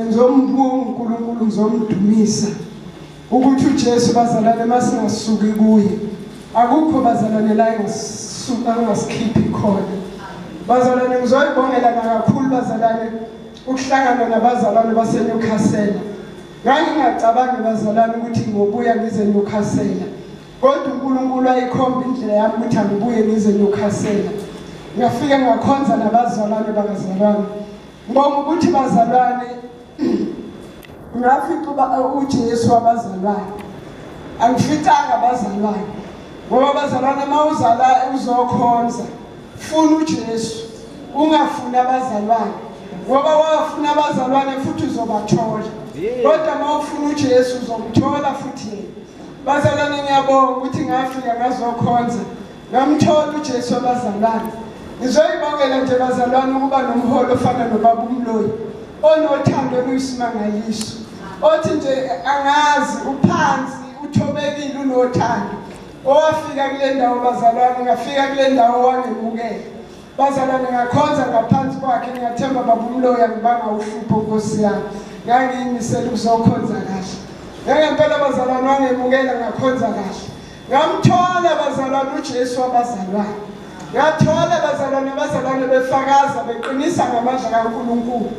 Ngizombuka uNkulunkulu ngizomdumisa ukuthi uJesu bazalwane masingasuki kuye akukho bazalwane la engasuka angasikhiphi khona bazalwane ngizoyibongela nakakhulu bazalwane ukuhlangana nabazalwane baseNewcastle ngangingacabangi bazalwane ukuthi ngobuya ngize Newcastle kodwa uNkulunkulu ayikhomba indlela yami ukuthi angibuye ngize Newcastle ngafike ngakhonza nabazalwane bakazalwane Ngibonga ukuthi bazalwane ngafica uba uthi Yesu wabazalwane. Angificanga abazalwane. Ngoba abazalwane mawuzala uzokhonza funa uJesu ungafuni abazalwane ngoba wafuna abazalwane futhi uzobathola. Kodwa mawufuna uJesu uzomthola futhi yena. Bazalwane ngiyabonga ukuthi ngafika ngazokhonza. Ngamthola uJesu abazalwane. Ngizoyibongela nje bazalwane ukuba nomholi ofana nobaba uMloyi onothando oluyisimangaliso. Othi nje angazi uphansi uthobekile unothando. Owafika kule ndawo bazalwane ngafika kule ndawo wangemukela. Bazalwane ngakhonza ngaphansi kwakhe ngiyathemba baba uMloyi angibanga uhlupho Nkosi yami. Ngangiyimisela ukuzokhonza kahle. Ngeke impela bazalwane wangemukela ngakhonza kahle. Ngamthola bazalwane uJesu wabazalwane. Ngathola bazalwane abazalwane befakaza beqinisa ngamandla kaNkulunkulu.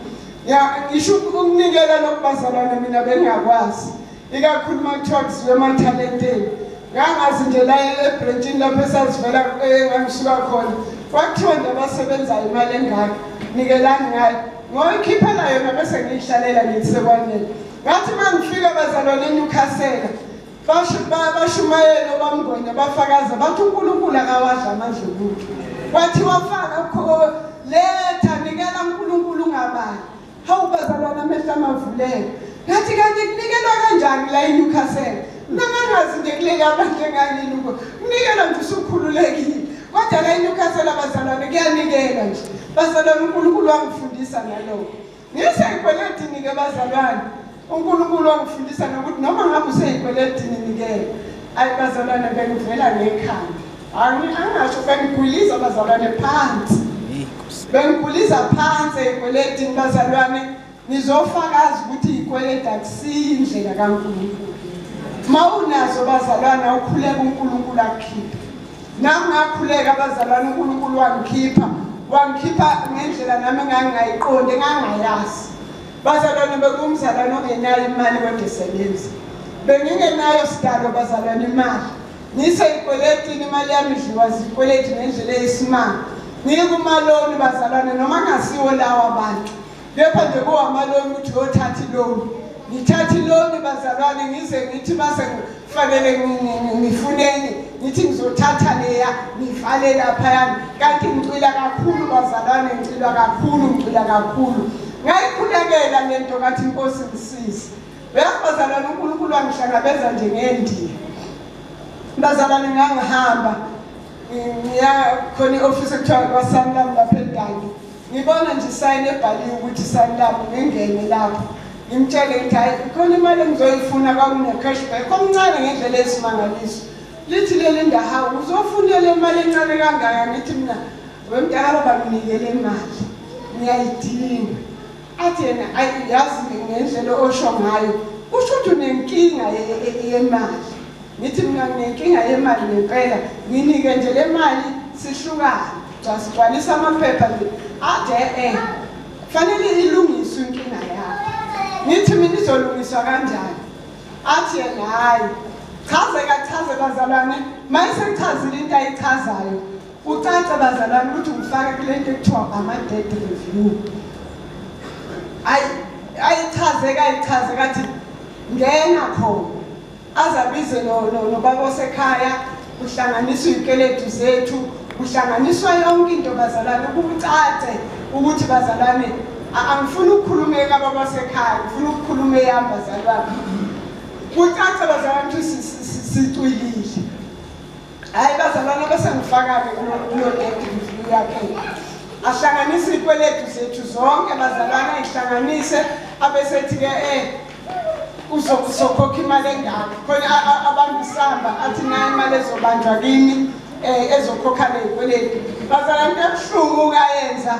Ya ngisho ukunikela nokubazalwane mina bengakwazi. Ikakhulu makuthiwa kuziwe emathalenteni. Ngangazi nje la ebrentshini lapho esazivela eh, engangisuka khona. Kwakuthiwa nje abasebenzayo imali engaka. Nikelani ngayo. Ngoyikhiphela yona bese ngiyihlalela ngiyisekwanele. Ngathi mangifika bazalwane eNewcastle Bashumayela obamngwenya bafakaza bathi uNkulunkulu akawadla amandla omuntu. Kwathiwa faka kho letha nikela uNkulunkulu ungabali. Hawu bazalwana amehla amavuleke. Ngathi kanti kunikelwa kanjani la eNewcastle? Nangangazi nje kuleli abantu engangini uko. Kunikelwa nje usukhululekile. Kodwa la eNewcastle abazalwane kuyanikela nje. Bazalwane uNkulunkulu wangifundisa ngalokho. Ngiseyikweletini-ke bazalwane, uNkulunkulu wangifundisa nokuthi noma ngabe useyikweletini-ke, ayi bazalwane bengivela ngekhanda. Angi- Angasho bengigwiliza bazalwane phansi. Bengigwiliza phansi ey'kweletini bazalwane, ngizofakaza ukuthi iy'kweleti akusiyo indlela kaNkulunkulu. Uma unazo bazalwane awukhuleka uNkulunkulu akukhiphe. Nami ngakhuleka abazalwane uNkulunkulu wangikhipha wangikhipha ngendlela nami engangingayiqondi engangingayazi bazalwane bekumzalwane ongenayo imali kodwa esebenzi bengingenayo sidalo bazalwane imali ngiseyikweletini imali yami idliwa zikweleti ngendlela eyisimanga ngikumaloni bazalwane noma ngasiwo lawo abantu Kepha nje kowamaloni ukuthi uyothatha iloni. Ngithatha iloni bazalwane ngize ngithi base kufanele ngifuneni ngithi ngizothatha leya ngivale laphayana kanti ngicwila kakhulu bazalwane ngicwila kakhulu ngicwila kakhulu ngayikhulekela le nto kathi inkosi ngisize uyazi bazalwane unkulunkulu wangihlangabeza nje ngendiya bazalwane ngangihamba ngiya khona i-ofisi ekuthiwa kwasamlam lapha edange Ngibona nje isayini ebhaliwe ukuthi isayini labo ngingene lapho ngimtshele ukuthi hayi khona imali engizoyifuna kwakunecashback omncane ngendlela esimangaliso lithi leli ndahawu uzofuna le mali encane kangaka ngithi mina wemdala banginike le mali ngiyayidinga athi yena yazi ngendlela osho ngayo kusho ukuthi unenkinga yemali Ngithi mina nginenkinga yemali ngempela nginike nje le mali sihlukane sasigcwalisa amaphepha nje ade eh fanele ilungiswe inkinga yakho ngithi mina izolungiswa kanjani athi yena hhayi chaze kachaze bazalwane mayeseyichazile into ayichazayo ucace bazalwane ukuthi ngifake kule nto ekuthiwa ama-dead review ayichaze kayichaze kathi ngena khona Azabize no, no, nobaba osekhaya kuhlanganiswa izikweletu zethu kuhlanganiswa yonke into bazalwane kucace ukuthi bazalwane angifuni ukukhuluma ekaba basekhaya ngifuna ukukhuluma eyami bazalwane kucace bazalwane ukuthi sicwilile hhayi bazalwane abasengifakane kulo dede ngifuna yakhe ahlanganise iy'kweletu zethu zonke bazalwane ayihlanganise abesethi-ke um eh, uzokhokha imali engaka khona abantu sihamba athi nayo imali ezobanjwa kimi um eh, ezokhokha ley'kweleti bazala nto ebuhlungu ukayenza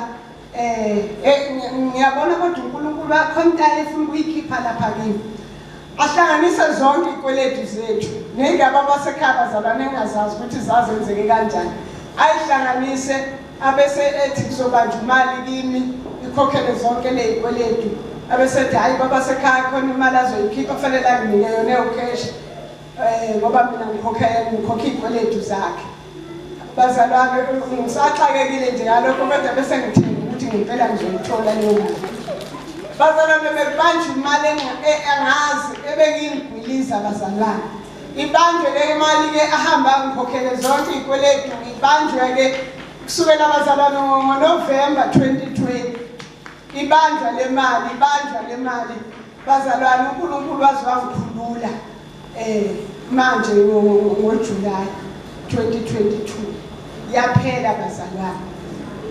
um ngiyabona kodwa unkulunkulu akhontayo efuna ukuyikhipha lapha kimi ahlanganise zonke iy'kweleti zethu ney'ndaba abasekhaya bazalwane engazazi ukuthi zazenzeke kanjani ayihlanganise abese ethi kuzobanjwa imali kimi ikhokhele zonke ley'kweletu abesethi hhayi baba sekhaya khona imali azoyikhipha kufanele anginike yona ewukheshi um eh, ngoba mina ngikhokhe iy'kweletu zakhe bazalwane ngisaxakekile nje ngalokho kodwa bese ngithemba ukuthi ngempela ngizoyithola leyo mali bazalwane bebanje imali e-, engazi ebengiyingwiliza bazalwane Ibanjwe le mali ke ahamba ngikhokhele zonke izikweletu ibanjwe ke kusukela abazalwane ngoNovember 2020 ibanjwa le mali ibanjwa le mali bazalwane uNkulunkulu waze wangikhulula eh manje ngoJuly 2022 yaphela bazalwane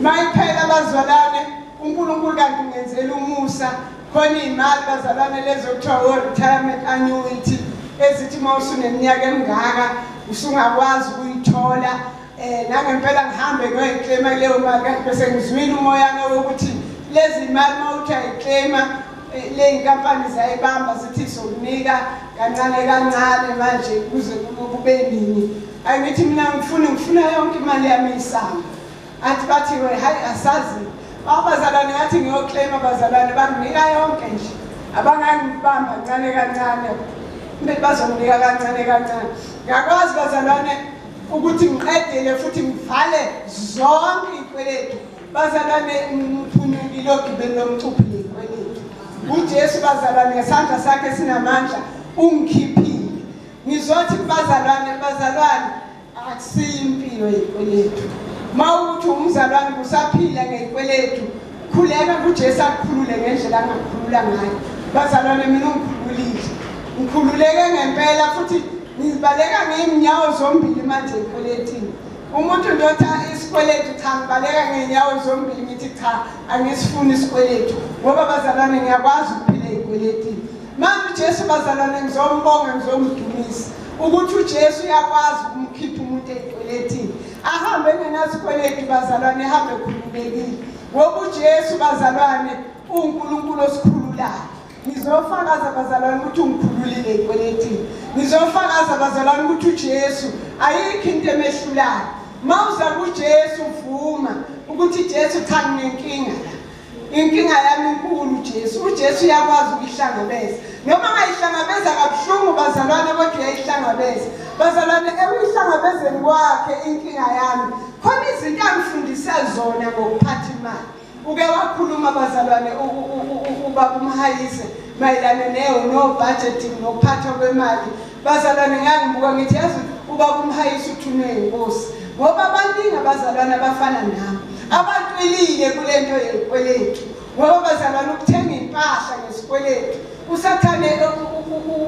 mayiphela bazalwane uNkulunkulu kanti ungenzela umusa khona iy'mali bazalwane lezo kuthiwa wo-retirement annuity ezithi uma usuneminyaka emingaka usungakwazi ukuyithola um nangempela ngihambe kuyoyiklema kuleyo mali kanti bese ngizwile umoyana wokuthi lezi mali uma uthi ayiklema eh, ley'nkampani ziyayibamba zithi sokunika kancane kancane manje kuze kube nini angithi mina ngifuna ngifuna yonke imali yami isango Athi bathi we hayi asazi abazalwane yathi ngiyoclaim abazalwane banginika yonke nje abangangibamba ncane kancane kumele bazonginika kancane kancane ngiyakwazi bazalwane ukuthi ngiqedele futhi ngivale zonke iy'kweletu bazalwane ngiphunyukile ogibeni lomcuphi ney'kweletu ujesu bazalwane ngesandla sakhe sinamandla ungikhiphile ngizothi kubazalwane bazalwane akusiyo impilo yezikweletu mawukuthi umzalwane kusaphila ngezikweletu khuleka kujesu akukhulule ngendlela angakhulula ngayo bazalwane mina ungikhululile ngikhululeke ngempela futhi ngizibaleka ngey'nyawo zombili manje ekweletini umuntu ndotha isikweletu cha ngibaleka ngey'nyawo zombili ngithi cha angisifuni isikweletu ngoba bazalwane ngiyakwazi ukuphila ey'kweletini Manje uJesu bazalwane ngizombonga ngizomdumisa ukuthi uJesu uyakwazi ukumkhipha umuntu ekweletini ahambe engenasikweleti bazalwane ehambe ekhululekile ngoba uJesu bazalwane uNkulunkulu osikhululayo ngizofakaza bazalwane ukuthi ungikhululile ekweletini ngizofakaza bazalwane ukuthi uJesu ayikho into emehlulayo mawuza kuJesu vuma ukuthi Jesu cha nginenkinga la Inkinga yami inkulu uJesu. UJesu uyakwazi ukuyihlangabeza. Noma angayihlangabeza kabuhlungu bazalwane kodwa uyayihlangabeza. Bazalwane ekuyihlangabezeni kwakhe inkinga yami. Khona izinto angifundise zona ngokuphatha imali. Uke wakhuluma bazalwane ubaba umhayise mayelana neyo no budgeting nokuphathwa kwemali Bazalwane ngangibuka ngithi yazi uba kumhayisa uthunwe inkosi ngoba abaningi abazalwane abafana nami abatwelile kule nto yezikweletu ngoba bazalwane ukuthenga impahla ngesikweletu usathane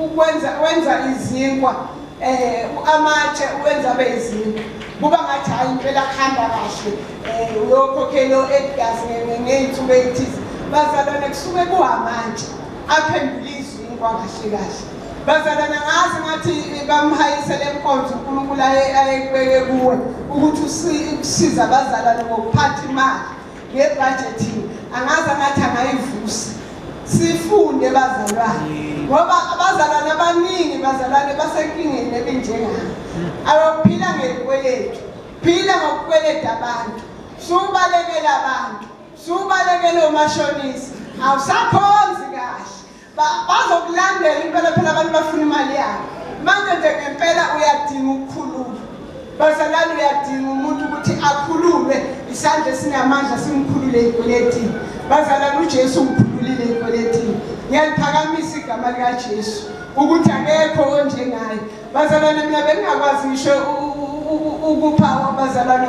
ukwenza wenza izinkwa um amatshe uwenza abe izinkwa kuba ngathi hhayi impela kuhamba kahle um uyokhokhelo egazi ngey'nsuku ey'thize bazalwane kusuke kuhamanje aphendule izinkwa kahle kahle Bazalana ngazi ngathi bamhayise le nkonzo uNkulunkulu ayekubeke kuwe ukuthi usiza abazalane ngokuphatha imali ngebhajethi angazi angathi angayivusa sifunde bazalwane ngoba abazalwane abaningi bazalwane basenkingeni ebinjengami abaphila ngekweletu phila ngokukweleta abantu subalekela abantu subalekela omashonisa awusakhonzi kahle bazokulandela impela phela abantu bafuna imali yabo manje nje ngempela uyadinga ukukhululwa bazalwane uyadinga umuntu ukuthi akhululwe isandla esinamandla simkhulule ey'kweletini bazalwane ujesu umkhululile ey'kweletini ngiyaliphakamisa igama likajesu ukuthi akekho onjengaye bazalwane mina bengingakwazi ngisho ukupha abazalwane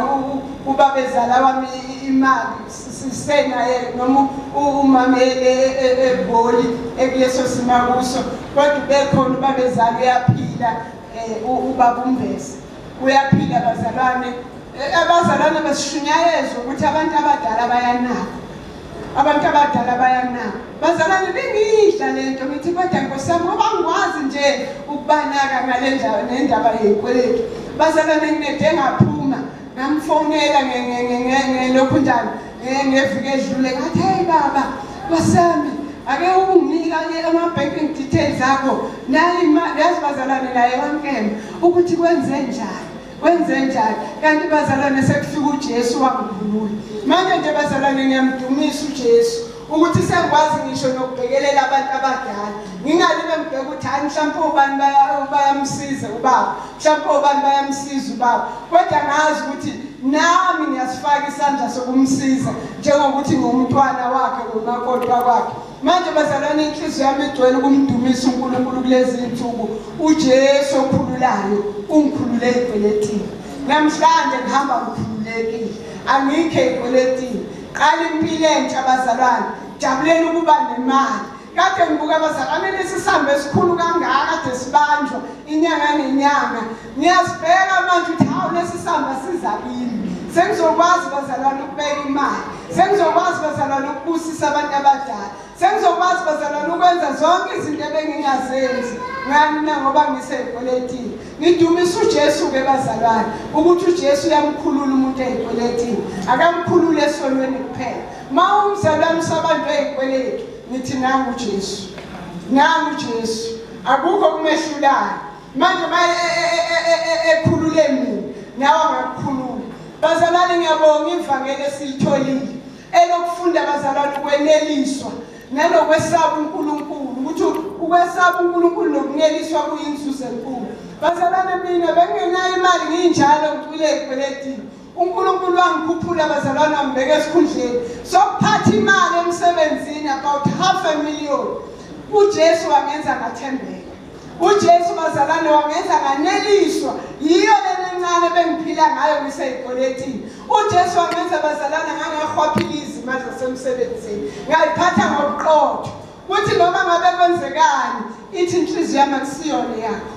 ubabezala wami imali sisena yena noma umama eboli ekuleso sima kuso kodwa ubekhona ubabezala uyaphila um ubaba umbese uyaphila abazalwane abazalwane basishunyayezwa ukuthi abantu abadala bayanaka abantu abadala bayanaka bazalwane bengiyidla le nto ngithi kodwa nkosami ngoba ngikwazi nje ukubanaka ngale ndaba nendaba yekweleti bazalwane nginede ngaphuma ngamfonela ngelokhu njani ngeviki edlule ngathi heyi baba kwasami ake unginike ama-banking details akho nayi imali yazi bazalwane naye wankena ukuthi kwenze njani kwenze njani kanti bazalwane sekufika ujesu wangikhulula manje nje bazalwane ngiyamdumisa ujesu ukuthi sengikwazi ngisho nokubhekelela abantu abadala ngingalime ngibheke ukuthi hayi mhlawumpe ubani bayamsiza ubaba Mhlawumbe obani bayamsiza ubaba kodwa ngazi ukuthi nami ngiyasifaka isandla sokumsiza njengokuthi ngumntwana wakhe umakoti wakwakhe manje bazalwane inhliziyo yami igcwele ukumdumisa unkulunkulu kulezi nsuku ujesu okhululayo ungikhulule ey'kweletini namhlanje ngihamba ngikhululekile angikho ey'kweletini qala impilo entsha bazalwane jabuleni ukuba nemali kade ngibuka abazalwane lesi sambe esikhulu kangaka kade sibanjwa inyanga nenyanga ngiyasibheka manje ukuthi hawu lesi samba siza kimi sengizokwazi bazalwane ukubeka imali sengizokwazi bazalwane ukubusisa abantu abadala sengizokwazi bazalwane ukwenza zonke izinto ebengingazenzi ngani na ngoba ngiseyikweletini ngidumisa ujesu-ke bazalwane ukuthi ujesu uyamkhulula umuntu eyikweletini akamkhulule esonweni kuphela Uma umzabamisa abantu ezikweletu nithi nangu uJesu. Nangu uJesu. Akukho kumehlulayo. Manje uma ekhulule mina nawe angakukhulula. Bazalwane ngiyabonga ivangeli esilitholile elokufunda bazalwane ukweneliswa nanokwesaba uNkulunkulu ukuthi ukwesaba uNkulunkulu nokuneliswa kuyinzuzo enkulu. Bazalwane mina bengenayo imali nginjalo ngicwile ekweletini. uNkulunkulu wangikhuphula abazalwane wangibeka esikhundleni sokuphatha imali emsebenzini about half a million uJesu wangenza ngathembeka uJesu bazalwane wangenza nganeliswa yiyo lena encane bengiphila ngayo ngiseyikoletini uJesu wangenza bazalwane ngangahwaphila izimali zasemsebenzini ngayiphatha ngobuqotho Kuthi noma ngabe kwenzekani ithi inhliziyo yami akusiyona yakho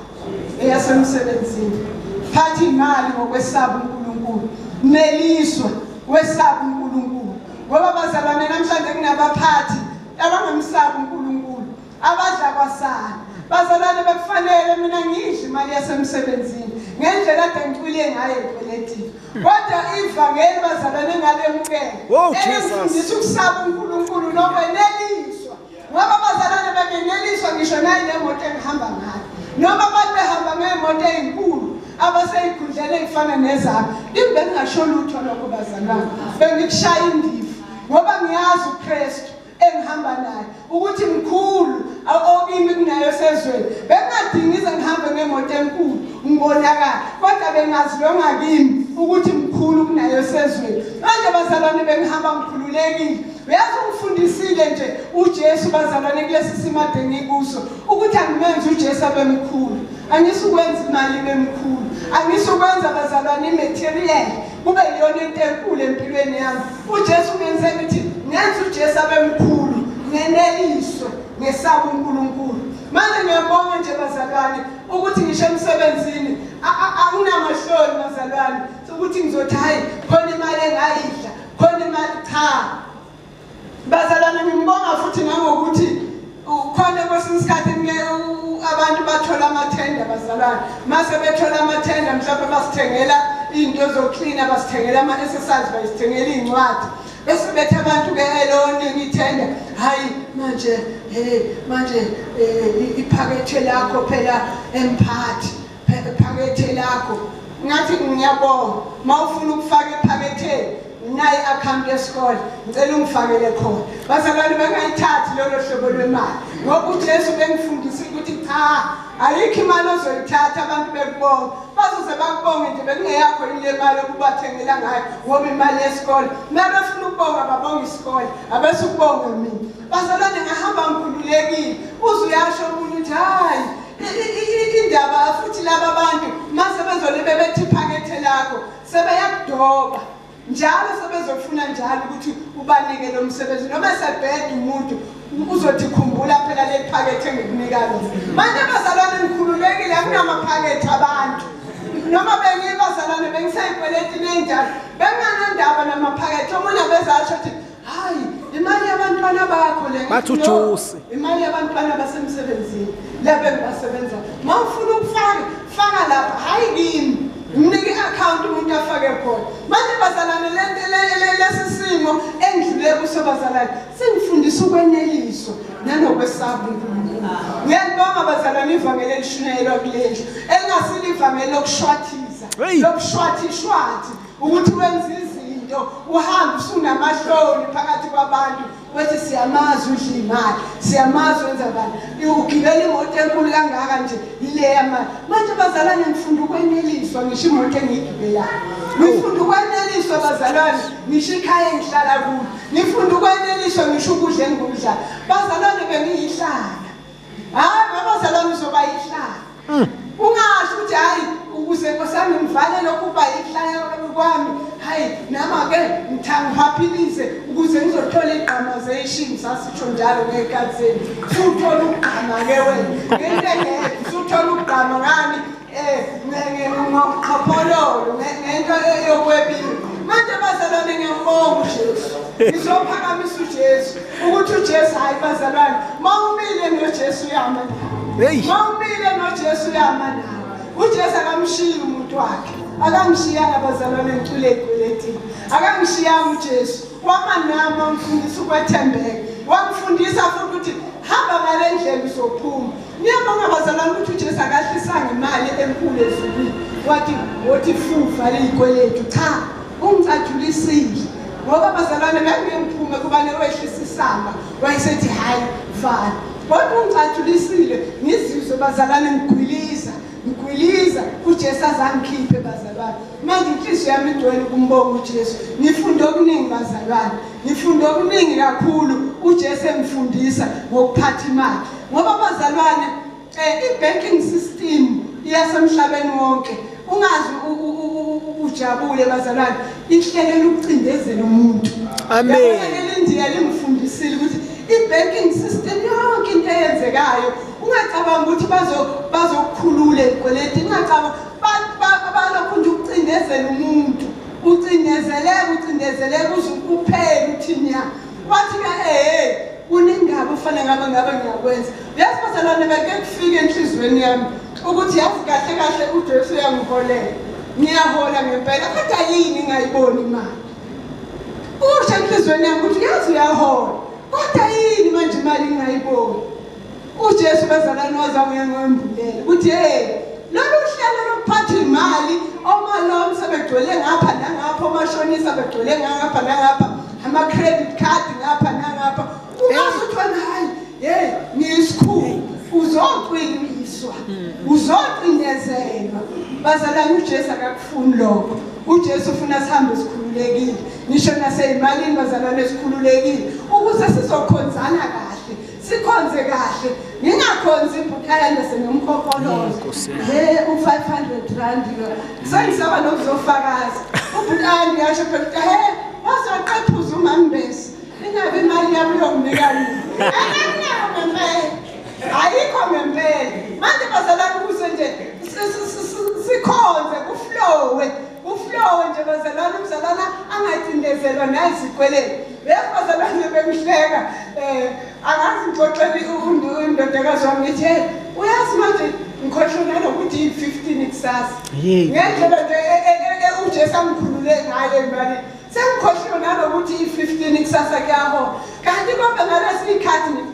eyasemsebenzini thatha imali ngokwesaba uNkulunkulu neliswa wesaba uNkulunkulu ngoba bazalwane namhlanje kunabaphathi abangamsaba uNkulunkulu abadla kwasana bazalwane bekufanele mina ngidle imali yasemsebenzini ngendlela ade ngicwile ngayo ekweletini Kodwa ivangeli bazalwane ngalemukela. Oh Jesus. Elifundisa ukusaba uNkulunkulu nokweneliswa. Ngoba bazalwane bebeneliswa ngisho nayi nemoto engihamba ngayo. Noma abantu behamba ngemoto ezinkulu abaseyikhundlele ifana nezami. Kimi bengingasho lutho lokho bazalwane. Bengikushaya indiva ngoba ngiyazi uKristu. engihamba naye ukuthi mkhulu okimi kunayo esezweni bengingadingi ize ngihambe ngemoto enkulu ngibonakala kodwa bengazilonga kimi ukuthi mkhulu kunayo esezweni manje bazalwane bengihamba ngikhululekile uyazi ungifundisile nje ujesu bazalwane kulesi simade ngikuso ukuthi angimenzi ujesu abemkhulu angisukwenza imali bemkhulu angisukwenza bazalwane imaterial kube yiyona into enkulu empilweni yami uJesu ngenze ukuthi ngenza uJesu abe mkhulu ngeneliswe ngesaba uNkulunkulu manje ngiyabonga nje bazalwane ukuthi ngisho emsebenzini anginamahloni bazalwane ukuthi ngizothi hhayi khona imali engayidla khona imali cha bazalwane ngimbonga futhi nangokuthi Ukhona kwesinye isikhathi abantu bathola amathenda bazalwane mase bethola amathenda mhlawumbe basithengela iy'nto zoklina basithengela ama-exercise bayisithengela iy'ncwadi bese bethi abantu ke-eloningi ithenda hhayi manje um manje um iphakethe lakho phela emphathi ephakethe lakho ngathi ngiyabonga mawufuna ukufaka ephaketheni nayi account yesikole ngicela ungifakele khona bazalwane bangayithathi lolo hlobo lwemali ngoba uJesu bengifundisa ukuthi cha ayikho imali ozoyithatha abantu bekubonga bazoze bakubonge nje bekungeyakho yini le mali okubathengela ngayo ngoba imali yesikole mele befuna ukubonga babonga isikole abese ukubonga mina bazalwane ngahamba ngikhululekile uze uyasho umuntu ukuthi hhayi indaba futhi laba bantu mase bezole bebethi phakethe lakho sebeyakudoba njalo sebezofuna njalo ukuthi ubanike lo msebenzi noma esebheda umuntu uzothi khumbula phela le phakethe ngikunikalo manje abazalwane ngikhululekile akunamaphakethe abantu noma bengibazalwane bengiseyikweletini enjalo benganandaba namaphakethe omunye abezasho ukuthi hayi imali yabantwana bakho le bathi ujusi imali yabantwana basemsebenzini lebe basebenza uma ufuna ukufaka faka lapha hayi kimi mnike i-akhawunti umuntu afake khona manje bazalane lesi simo engidlule kuso bazalane sengifundisa ukweneliswa nanokwesaba unkulunkulu ngiyalibonga bazalane ivangeli elishunyayelwa kulendlu elingasile ivangeli lokushwathiza lokushwathishwathi ukuthi wenza izinto uhambe usunamahloni phakathi kwabantu kwethi siyamazi udla imali siyamazi wenza bani ugibela imoto enkulu kangaka nje yile yamali manje bazalwane ngifunda ukweneliswa ngisho imoto engiyigibelayo ngifunda ukweneliswa bazalwane ngisho ikhaya engihlala kulo ngifunda ukweneliswa ngisho ukudla engikudlayo bazalwane bengiyihlala hayi baba salami uzoba yihlaya mm. ungasho ukuthi hayi ukuze nkosami ngivale lokhu uba yihlaya kwami hayi nama-ke ngithangihaphilize ukuze ngizothola igqama zeshini sasisho njalo ngey'kathi zenu suthola ukugqama-ke wena ngentengeke suthola ukugqama ngani ngizophakamisa uJesu ukuthi uJesu hayi bazalwane mawumile noJesu yama nawe mawumile noJesu yama nawe uJesu akamshiyi umuntu wakhe akamshiyanga bazalwane ngicule ekuletini akamshiyanga uJesu Wama nami wangifundisa ukwethembeka, wangifundisa futhi ukuthi hamba ngale ndlela uzophuma. Niyabonga bazalwane ukuthi uJesu akahlisanga imali enkulu ezulwini wathi wothi fufa liyikweletu cha ungicajulisile ngoba bazalwane ngangiyengiphume kubane wehlisa isamba wayesethi hhayi vala kodwa ungicajulisile ngizizwe bazalwane ngigwiliza ngigwiliza ujesu azangikhiphe bazalwane manje inhliziyo yami igcwele ukumbonga uJesu ngifunde okuningi bazalwane ngifunde okuningi kakhulu uJesu engifundisa ngokuphatha imali ngoba bazalwane eh ibanking system iyasemhlabeni wonke ungazi ujabule bazalwane ihlelela ukucindezela umuntu amen elindiya lingifundisile ukuthi ibanking system yonke into eyenzekayo ungacabanga ukuthi bazo bazokukhulula izikweleti ungacabanga balokhu nje ukucindezela umuntu ucindezeleka ucindezeleka uze ukuphele uthini ya wathi ka ehe kuningaba ufane ngabe ngabe ngiyakwenza yazi bazalwane beke kufike enhliziyweni yami ukuthi yazi kahle kahle ujesu uyangiholela ngiyahola ngempela kodwa yini ingayiboni imali usho enhliziyweni yami ukuthi yazi uyahola kodwa yini manje imali ingayiboni uJesu bazalwane wazabuye ngombulele ukuthi hey lolu hlelo lokuphatha imali omalom sebegcwele ngapha nangapha omashonisa begcwele ngapha nangapha ama credit card ngapha nangapha ungasuthi wena hayi hey ngiyisikhulu uzoqiniswa uzoqindezelwa bazalwane uJesu akakufuni lokho uJesu ufuna sihambe sikhululekile ngisho naseyimalini bazalwane sikhululekile ukuze sizokhonzana kahle sikhonze kahle ngingakhonzi impukela nase nomkhokholozo he u500 rand lo sengisaba nokuzofakaza ubhutani yasho phela he wasaqephuza umambesi ingabe imali yami yokunika yini anginabo ngempela ayikho ngempela manje bazalana ukuze nje sikhonze kuflowe Uflowe nje bazalwane umzalwana angacindezelwa nayizikweleni. Bese bazalwane bemhleka eh angazi ngixoxele undodakazi wami ngithi hey uyazi manje ngikhohlwe nanokuthi yi-15 ikusasa. Yey. Ngendlela nje e- e- e- e- uJesu angikhulule ngayo ngibane sengikhohlwe nanokuthi yi-15 ikusasa kuyahola. Kanti konke ngalesi khathi ngithi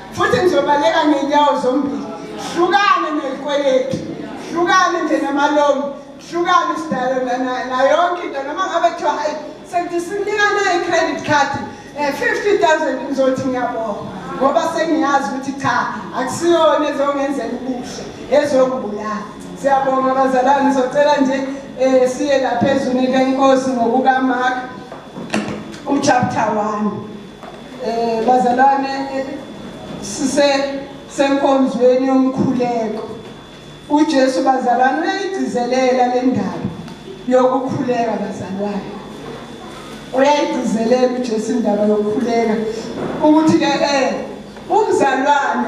futhi ngizobaleka ngenyawo zombili hlukane nezikweletu hlukane nje namalomi hlukane sidalo nayonke into noma ngabe kuthiwa hayi sekuthi sinikana i-credit card um eh, 50 000 ngizothi ngiyabonga ngoba sengiyazi ukuthi cha akusiyona ezongenzela ubuhle ezongibulala siyabonga abazalwane socela nje um siye laphezulu lenkosi ngokukamark uchapter one Eh bazalwane eh, sise senkonzweni yomkhuleko. UJesu bazalwane uyayigcizelela le ndaba yokukhuleka bazalwane. Uyayigcizelela uJesu indaba yokukhuleka ukuthi ke eh umzalwane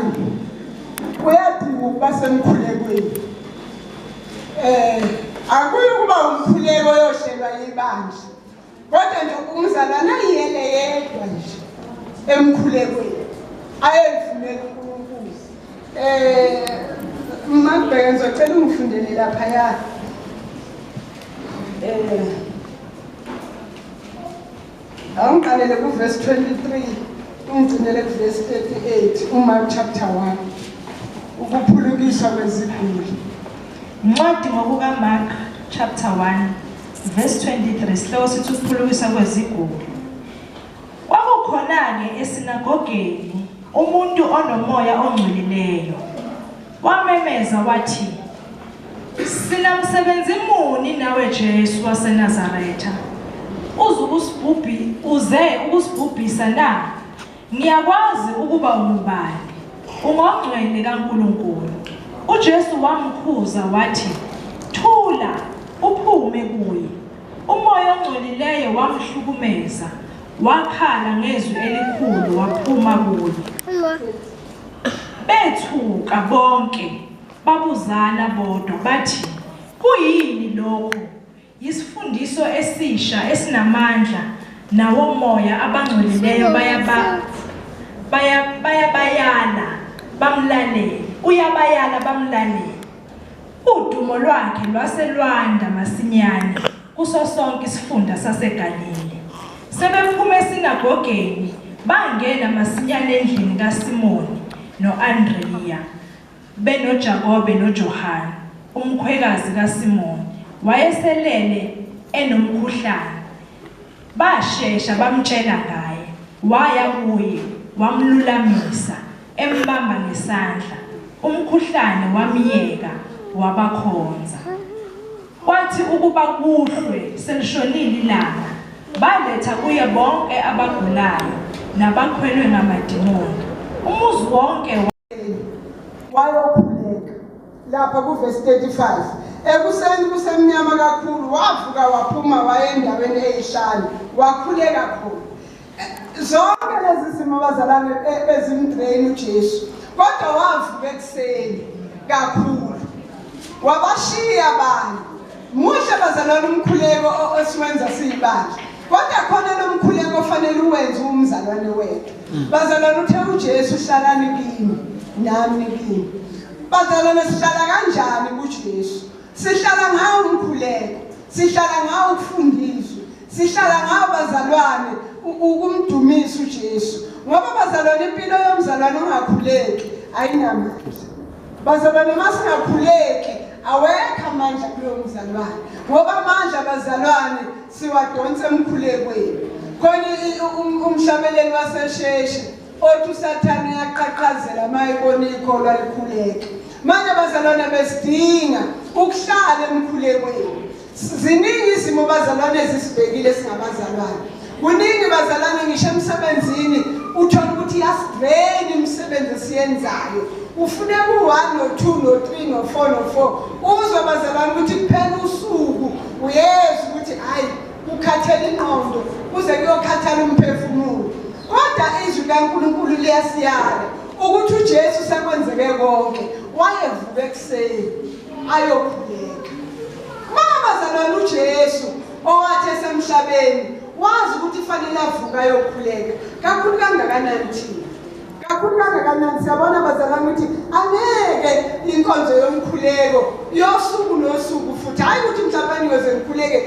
uyadinga ukuba semkhulekweni. Eh akuyi kuba umkhuleko yohlelwa yibandla Kodwa nje umzalwana yiyele yedwa nje emkhulekweni ayevumela uNkulunkulu. Eh Mabheka ngizocela ungifundele lapha ya. Eh Awungiqalele ku verse 23 ungigcinele ku verse 38 uMark chapter 1 ukuphulukiswa kweziguli. Ncwadi ngokukaMark chapter 1 Verse 23 sihloko sithi ukuphulukisa kwezigulo. Kwakukhona-ke esinagogeni umuntu onomoya ongcwelileyo. Wamemeza wathi, Sinamsebenzi muni nawe Jesu waseNazaretha? Uze ukusibhubhi uze ukusibhubhisa na? Ngiyakwazi ukuba ungubani. Ungongcwele kaNkulunkulu. UJesu wamkhuza wathi, "Thula, uphume kuye." Umoya ongcolileyo wamhlukumeza. Wakhala ngezwi elikhulu waphuma kuye. Bethuka bonke, babuzana bodwa bathi, "Kuyini lokhu?" Yisifundiso esisha esinamandla nawomoya abangcolileyo bayaba bayabayala bamlalele uyabayala bamlalele udumo lwakhe lwase lwanda masinyane kuso sonke isifunda saseGalile sebephume esinagogeni bangena masinyane endlini kaSimoni noAndreya BenoJakobe noJohane, umkhwekazi kaSimoni, wayeselele enomkhuhlane. Bashesha bamtshela ngaye, waya kuye, wamlulamisa, embamba ngesandla. Umkhuhlane wamyeka, wabakhonza. Kwathi ukuba kuhlwe selishonile ilanga, baletha kuye bonke abagulayo nabakhwelwe ngamadimoni. Umuzi wonke wayokhuleka lapha kuvesi 35 ekuseni kusemnyama kakhulu wavuka waphuma waye endaweni eyishane wakhuleka khona zonke lezi zimo abazalane bezimdraini ujesu kodwa wavuka ekuseni kakhulu wabashiya abantu Muhle bazalwane umkhuleko osiwenza siyibandla. Kodwa khona lomkhuleko ofanele uwenze umzalwane wethu. Mm. Bazalwane uthe uJesu hlalani kimi nami kimi. Bazalwane sihlala kanjani kuJesu? Sihlala ngawo umkhuleko, sihlala ngawo ukufundiswa, sihlala ngawo bazalwane ukumdumisa uJesu. Ngoba bazalwane impilo yomzalwane ongakhuleki ayinamandla. Bazalwane masingakhuleki awekho amandla kulo mzalwane ngoba amandla abazalwane siwadonsa emkhulekweni khona um, umhlabeleli wasesheshe othi usathane uyaqhaqhazela uma ebona ikholwa likhuleke manje abazalwane besidinga ukuhlala emkhulekweni Ziningi izimo bazalwane ezisibhekile singabazalwane. Kuningi bazalwane ngisho emsebenzini uthola ukuthi yasidrain imisebenzi esiyenzayo. Ufune ku-1 no-2 no-3 no-4 no-4 uzwe bazalwane ukuthi kuphela usuku uyezwa ukuthi hhayi kukhathela ingqondo kuze kuyokhathala umphefumulo. Kodwa izwi kaNkulunkulu liyasiyala ukuthi uJesu sekwenzeke konke wayevuka ekuseni ayokhuleka mama bazalwane uJesu owathi esemhlabeni wazi ukuthi fanele avuka ayokhuleka kakhulu kangakanani thina kakhulu kangakanani siyabona bazalwane ukuthi angeke inkonzo yomkhuleko yosuku nosuku futhi hhayi ukuthi mhlawumbe niyoze ngikhuleke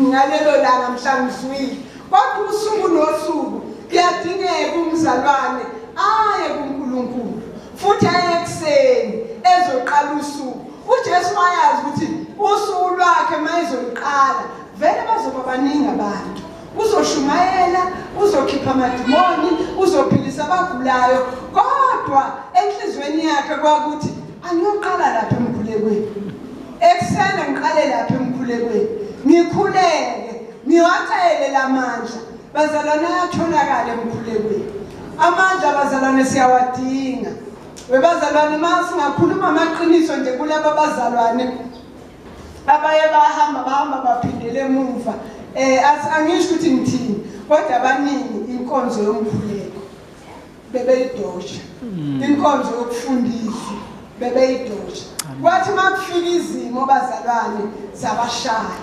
ngalelo langa mhla ngizwile Kodwa usuku nosuku kuyadingeka umzalwane aye kuNkulunkulu futhi aye ekuseni ezoqala usuku. UJesu wayazi ukuthi usuku lwakhe mayezoliqala vele bazoba baningi abantu. Uzoshumayela, uzokhipha amadimoni, uzophilisa abagulayo, kodwa enhlizweni yakhe kwakuthi angiyoqala lapha emkhulekweni. Ekuseni ngiqale lapha emkhulekweni. Ngikhuleke Niwacele la mandla bazalwane ayatholakala emkhulekweni. Amandla bazalwane siyawadinga. Webazalwane uma singakhuluma amaqiniso nje kulaba bazalwane abaye bahamba bahamba baphindele emuva um angisho ukuthi ngithini kodwa abaningi inkonzo yomkhuleko bebeyidosha mm. inkonzo yokufundisa bebeyidosha kwathi uma kufika izimo bazalwane zabashaya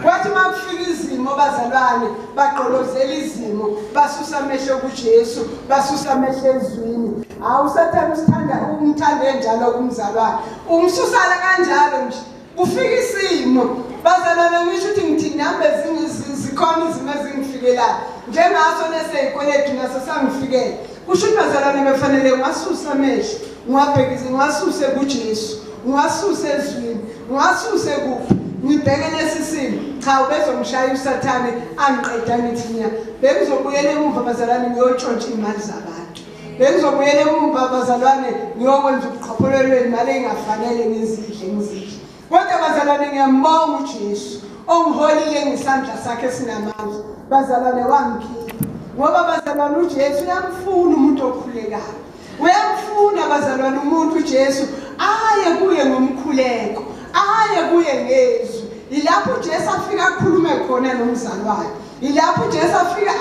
kwathi uma kufika izimo bazalwane bagqolozela izimo basusa amehlo kujesu basusa amehlo ezwini hawu usathane usithanda umthande njalo kumzalwane umsusala kanjalo nje Kufika isimo bazalwane ngisho ukuthi ngithi nami bezikhona izimo ezingifikelayo njengaso neseyikweletu naso sangifikela kusho ukuthi bazalwane befanele ngiwasuse amehlo ngiwabhekise ngiwasuse kujesu ngiwasuse ezwini ngiwasuse kuphi ngibheke lesi simo cha ubezongishaya usathane angiqeda ngithi nya bengizobuyela emuva bazalwane ngiyotshontsha iy'mali zabantu Bengizobuyela emumva abazalwane ngiyokwenza ubuqhopholelo imali engafanele ngizidle ngizidle. Kodwa abazalwane ngiyambonga uJesu ongiholile ngesandla sakhe sinamandla. Bazalwane wangikhipha. Ngoba bazalwane uJesu uyamfuna umuntu okhulekayo. Uyamfuna bazalwane umuntu uJesu aye kuye ngomkhuleko, aye kuye ngezwi. Yilapho uJesu afika akhulume khona nomzalwane. Yilapho uJesu afika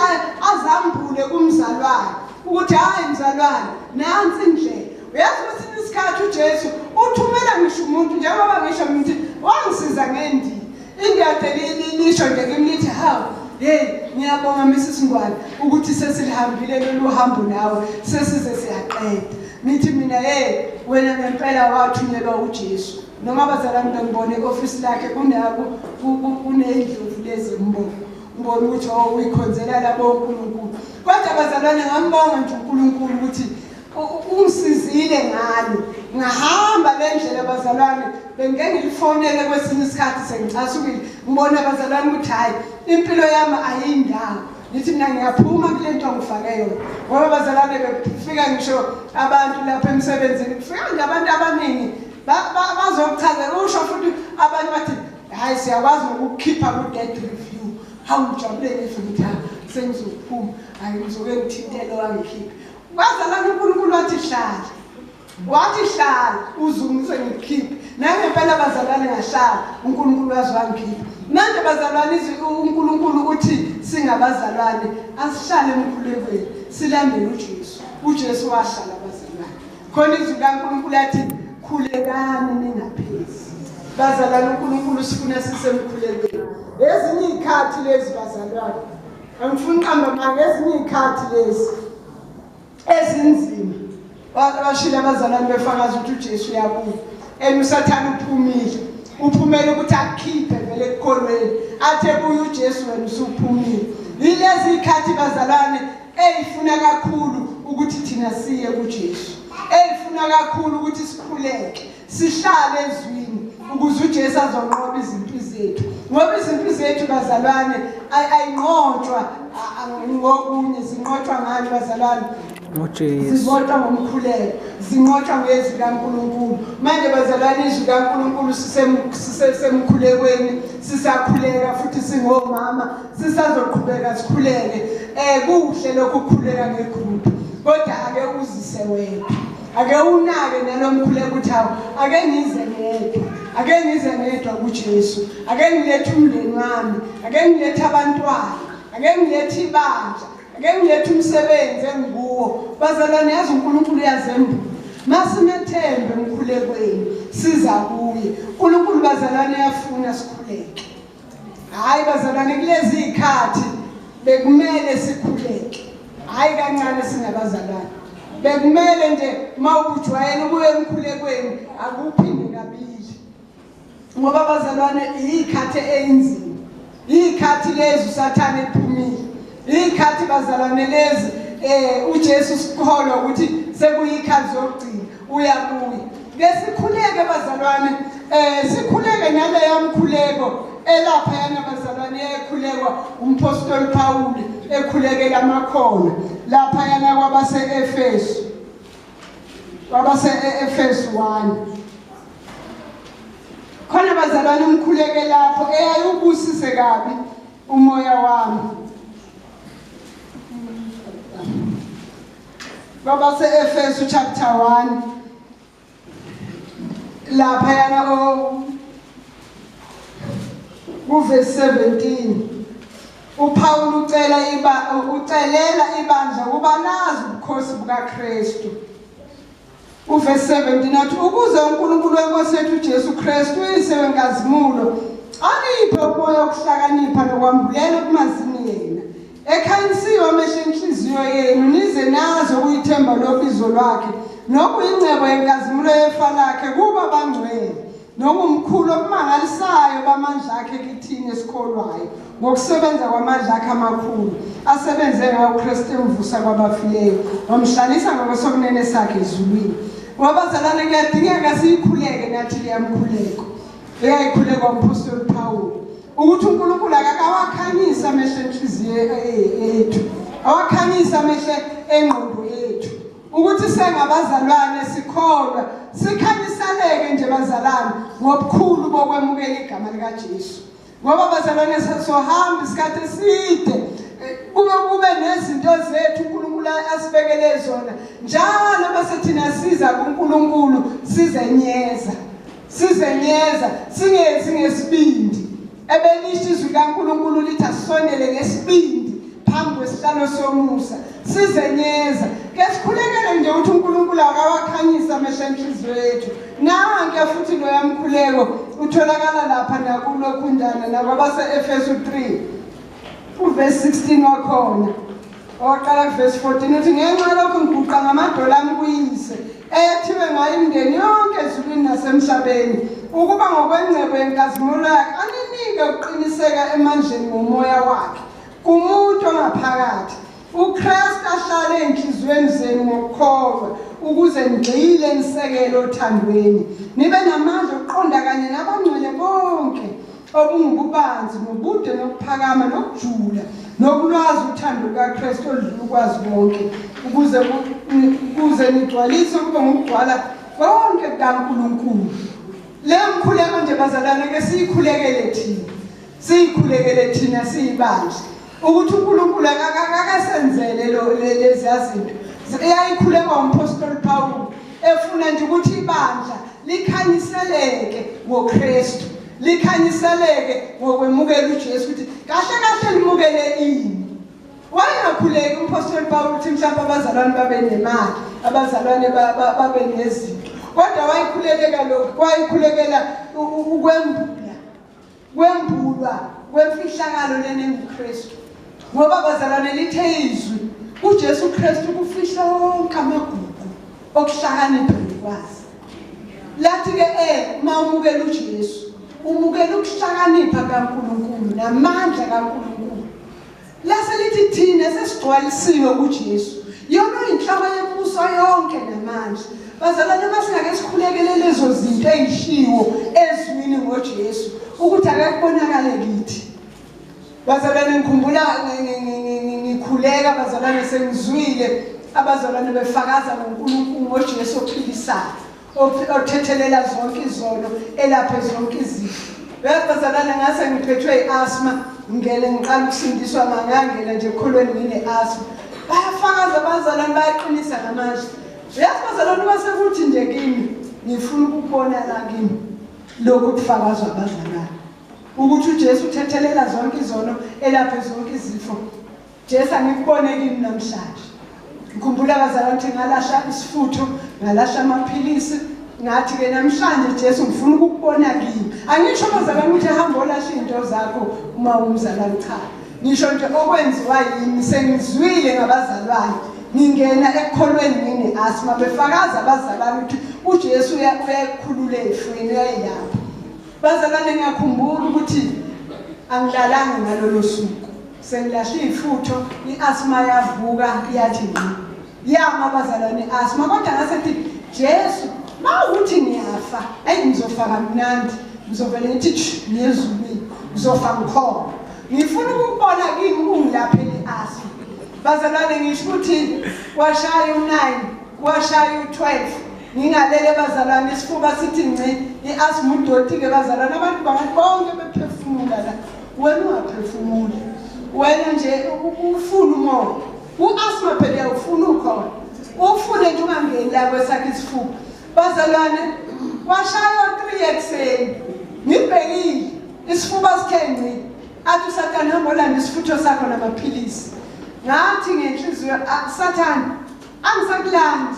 azambule kumzalwane ukuthi hayi mzalwane nansi indlela. Uyazi kwesinye isikhathi uJesu uthumela ngisho umuntu njengoba ngisho ngithi wangisiza ngendi. Indoda lisho nje kimi lithi hawu hey ngiyabonga Mrs Ngwane ukuthi sesilihambile lolu hambo nawe sesize siyaqeda. Ngithi mina hey wena ngempela wathunyelwa uJesu. noma abazalwane bengibona e-ofisi lakhe kuney'ndlovu lezi mbona ngibona ukuthi o oh, uyikhonzela labo unkulunkulu kodwa abazalwane ngambonga nje unkulunkulu ukuthi ungisizile ngalo ngahamba le ndlela abazalwane bengike ngilifonele kwesinye isikhathi sengicasukile ngibona abazalwane ukuthi hhayi impilo yami ayiyindawo ngithi mina ngiyaphuma kule nto ngifake yona ngoba abazalwane bekufika ngisho abantu lapha emsebenzini kufika nje abantu abaningi bazokuchazela usho futhi abanye bathi hayi siyakwazi ngokukhipha ku-dead review hawu ngijabule ngisho ukuthi ha sengizophuma hayi ngizoke ngithintele wangikhiphe kwazalana unkulunkulu wathi hlala wathi hlala uzungise ngikhiphe nangempela bazalwane ngahlala unkulunkulu wazi wangikhipha manje bazalwane unkulunkulu uthi singabazalwane asihlale emkhulekweni silandele ujesu ujesu wahlala khona izwi likankulunkulu athi khulekani ningaphezi bazalwane unkulunkulu sifuna sisemkhulekweni ezinye iy'khathi lezi bazalwane angifuni uqamba manga ezinye iy'khathi lezi ezinzima bashile abazalwane befakaza ukuthi ujesu uyabuya and usathane uphumile uphumele ukuthi akukhiphe vele ekukholweni athe kuye ujesu wena usuphumile yilezi y'khathi bazalwane eyifuna kakhulu ukuthi thina siye kuJesu eyifuna kakhulu ukuthi sikhuleke sihlale ezwini ukuze uJesu azonqoba izimpi zethu ngoba izimpi zethu bazalwane ayinqotshwa ngokunye zinqotshwa ngani bazalwane ngoJesu zizodwa ngomkhuleko zinqotshwa ngezwi kaNkuluNkulu manje bazalwane izwi kaNkuluNkulu sisemkhulekweni sisakhuleka futhi singomama sisazoqhubeka sikhuleke um kuhle lokhu ukukhuleka ngegrupu kodwa ake uzise wedwa ake unake nalo mkhuleko ukuthi hawu ake ngize ngedwa ake ngize ngedwa kujesu ake ngilethe umndeni wami ake ngilethe abantwana ake ngilethe ibandla ake ngilethe umsebenzi engikuwo bazalwane yazi unkulunkulu uyazembula masimethembe emkhulekweni siza kuye unkulunkulu bazalwane yafuna sikhuleke Hayi bazalwane kulezi ikhathi bekumele sikhuleke. Hayi kancane singabazalwane. Bekumele nje mawubujwayela ubuye emkhulekweni akuphinde kabili. Ngoba bazalwane ikhathi einzima. Ikhathi lezi usathane ephumile. Ikhathi bazalwane lezi eh uJesu sikholwa ukuthi sekuyikhathi zokugcina. uyabuya ngesikhuleke bazalwane eh sikhuleke naleyo mkhuleko elapha yana bazalwane ekhulekwa umpostoli Pawule ekhulekela amakhono lapha yana kwabase Efesu kwabase Efesu 1 khona bazalwane umkhuleke lapho eyayubusise kabi umoya wami Kwabase-Efesu chapter 1 laphayana kuvesi 17 uPawulu ucela iba ucelela ibandla ukuba nazi ubukhosi bukaKristu Uvesi 17 athi ukuze uNkulunkulu weNkosi yethu uJesu Kristu uyise wenkazimulo aniphe umoya wokuhlakanipha nokwambulela okumazini yena ekhanyisiwe amehlo enhliziyo yenu nize nazi okuyithemba lobizo lwakhe nokuyingcebo yenkazimulo yefa lakhe kuba bangcwele Nongumkhulu okumangalisayo bamandla akhe kithini esikholwayo ngokusebenza kwamandla akhe amakhulu asebenze ngawo uKristu emvusa kwabafileyo wamhlalisa ngokwesokunene sakhe ezulwini ngoba zalane kuyadingeka siyikhuleke nathi leyamkhuleko eyayikhulekwa umphostoli Pawulu ukuthi uNkulunkulu akakawakhanyisa amehlo enhliziyo yethu awakhanyisa amehlo engqondo ukuthi sengabazalwane sikholwa sikhanyisaleke nje bazalwane ngobukhulu bokwemukela igama likaJesu ngoba bazalwane sohambe isikhathi eside eh, kube kube nezinto zethu uNkulunkulu asibekele zona njalo bese thina siza kuNkulunkulu sizenyeza sizenyeza singenzi ngesibindi Ebelisho izwi kaNkulunkulu lithi asondele ngesibindi phambi kwesihlalo somusa sizenyeza ke sikhulekele nje ukuthi uNkulunkulu akawakhanyisa amehlo enhliziyo yethu nanke futhi loya mkhuleko utholakala lapha nakulokhundana nakwabase-efesu 3 uvesi 16 wakhona owaqala kuvesi 14 uthi ngenxa lokhu ngiguqa ngamadolo ami kuyise ethiwe ngayo imindeni yonke ezulwini nasemhlabeni ukuba ngokwengcebo yenkazimulo yakhe aninike ukuqiniseka emandleni ngomoya wakhe kumuntu ongaphakathi ukristu ahlale ey'nhliziyweni zenu ngokukholwa ukuze nigxile nisekele othandweni nibe namandla okuqonda kanye nabangcwele bonke obungububanzi nobude nokuphakama nokujula nokulwazi uthando lukaKristu oludlula ukwazi konke ukuze ukuze nigcwalise kube ngokugcwala konke kukaNkulunkulu le mkhuleko nje bazalwane ke siyikhulekele thina siyikhulekele thina siyibandla ukuthi uNkulunkulu akakasenzele lo leziyazinto eyayikhulekwa umphostoli Pawulu efuna nje ukuthi ibandla likhanyiseleke ngoKristu likhanyiseleke ngokwemukela uJesu ukuthi kahle kahle limukele ini wayengakhuleki umphostoli Pawulu ukuthi mhlawumbe abazalwane babe nemali abazalwane babe nezinto kodwa wayikhulekeka lokhu wayikhulekela ukwembula kwembulwa kwemfihlakalo lena enguKristu ngoba bazalwane lithe izwi uJesu Kristu kufihla wonke amagugu okuhlakanipha nokwazi lathi ke eh uma umukela uJesu umukela ukuhlakanipha kaNkuluNkulu namandla kaNkuluNkulu Lase lithi thina sesigcwalisiwe uJesu. Yona inhlaba yembuso yonke namandla. Bazalwane masingake sikhulekele lezo zinto ezishiwo ezwini ngoJesu ukuthi akakubonakale kithi. Bazalwane ngikhumbula ngikhuleka bazalwane sengizwile abazalwane befakaza ngoNkulunkulu ngoJesu ophilisayo. othethelela zonke izono elaphe zonke izifo uyabhazalana ngase ngiphethwe i-asma ngele ngiqala ukusindiswa mangangena nje ekholweni ngine-asma bayafakaza abazalwane bayaqinisa ngamazwi uyazi bazalwane uma sekuthi nje kimi ngifuna ukubona la kimi lokhu kufakazwa abazalwane ukuthi ujesu uthethelela zonke izono elaphe zonke izifo Jesu angikubone kimi namhlanje. Ngikhumbula abazalwane ukuthi ngalahla isifutho, ngalahla amaphilisi, ngathi ke namhlanje Jesu ngifuna ukukubona kimi. Angisho abazalwane ukuthi hamba olahla into zakho uma umzalwane cha. Ngisho nje okwenziwa yimi sengizwile ngabazalwane. Ngingena ekukholweni ngini asma befakaza abazalwane ukuthi uJesu uyakhulula efweni uyayilapha. Bazalwane ngiyakhumbula ukuthi angilalanga ngalolo suku. Sengilahle ifutho iasma yavuka iyathi ngqi. Yama bazalwane iasma kodwa ngase thi Jesu mawuthi ngiyafa ayi ngizofa kamnandi ngizovele ngithi ngiyezulwini ngizofa ngikhona. Ngifuna ukubona kimi kungilaphela iasma. Bazalwane ngisho ukuthi washaya u9 washaya u12 ngingalele bazalwane isifuba sithi ngci iasma udoti ke bazalwane abantu bangathi bonke bephefumula la Wena ungaphefumuli. Wena nje ufuna umoya. U-asthma phela uyawufuna ukhona. Ufune nje ungangeni la kwesakhe isifuba. Bazalwane washaywa 3 ekuseni. Ngibhekile isifuba sithe ngci. Athi uSathane hamba olanda isifutho sakho namaphilisi. Ngathi ngenhliziyo ah, Sathane angisakulandi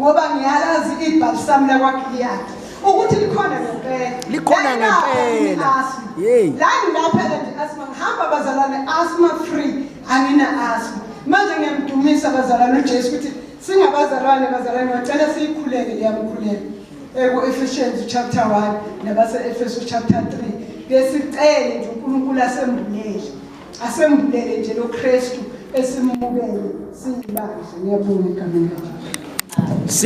ngoba ngiyalazi ibhalisamu lakwagiliyadi ukuthi likhona ngempela likhona ngempela yeyi la ngilaphela nje asma ngihamba bazalwane asma free angina asma manje ngiyamdumisa bazalwane ujesu ukuthi singabazalwane bazalwane ngacela siyikhuleke liyamkhuleka eku-efficiency chapter one nabase-efeso chapter three ngesicele nje unkulunkulu asembulele Asembulele nje lo Kristu esimubele singibandla ngiyabonga egameni likaJesu.